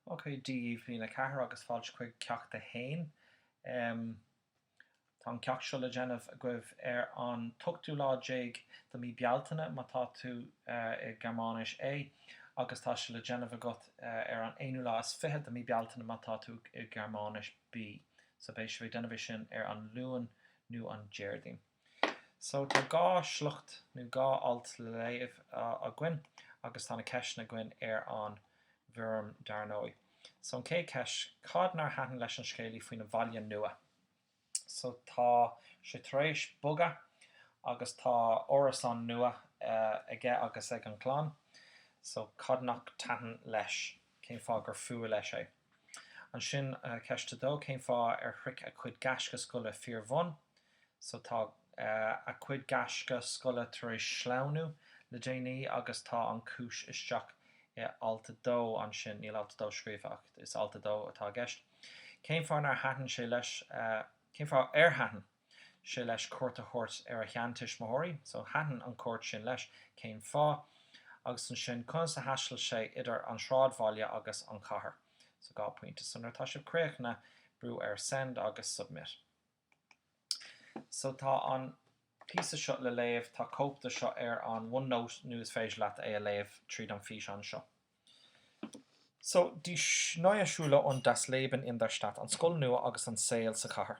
OK, Dia daoibh bliain 4 agus fáilte chuig ceacht 1. Tá an ceacht seo le déanamh agaibh ar an t-ochtú lá déag de mí Bealtaine, má tá tú i Gearmáinis, A, agus tá sé le déanamh agat ar an aonú lá is fiche de mí Bealtaine, má tá tú i Gearmáinis, B. So beidh sibh ag déanamh é sin ar an Luan nó an Déardaoin. So tá dhá sliocht nó dhá alt le léamh againn agus tá na ceisteanna againn ar an bhfoirm dar ndóigh. So an chéad cheist, cad nár thaitin leis an scéalaí faoina bhaile nua? So tá sé tar éis bogadh agus tá árasán nua aige agus ag an gclann. So cad nach dtaitin leis? Cén fáth gur fuath leis é? Ansin, ceist a dó, cén fáth ar shroich a chuid gaisce scoile fíorbhun? So, tá a chuid gaisce scoile tar éis sleamhnú le déanaí agus tá an chúis isteach i alt a dó ansin, níl alt a dó scríofa ach is alt a dó atá i gceist. Cén fáth nár thaitin sé leis, cén fáth ar thaitin? sé leis cuairt a thabhairt ar a sheantuismitheoirí. So, thaitin an chuairt sin leis. Cén fáth? Agus ansin, conas a thaistil sé idir an sráidbhaile agus an chathair? So, dhá pointe. So, nuair atá sibh críochnaithe, brú ar Send agus Submit. So, tá an píosa seo le léamh, tá cóip de seo ar an OneNote nó is féidir leat é a léamh tríd an físeán seo. So, Die neue Schule und das Leben in der Stadt, an scoil nua agus an saol sa chathair.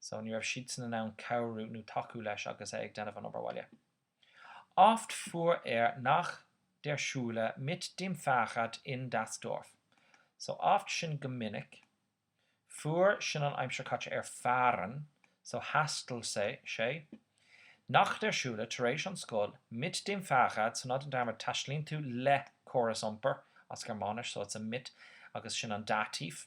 so ní raibh siadsan in ann cabhrú nó tacú leis agus é ag déanamh an obair bhaile. Oft fuhr er nach der Schule mit dem Fahrrad in das Dorf. So oft sin go minic, fuhr sin an aimsir chaite ar fahren so thaistil sé nach der Schule tar éis an scoil mit dem Fahrrad so ná déan dearmad taistealaíonn tú le córas iompair as Gearmáinis so it's a mit agus sin an Dativ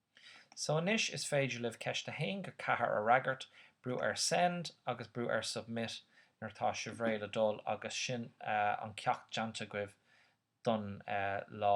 So anois is féidir libh ceist 1-4 a fhreagairt, brú ar Send agus brú ar Submit nuair atá sibh réidh le dul agus sin an ceacht déanta agaibh don lá.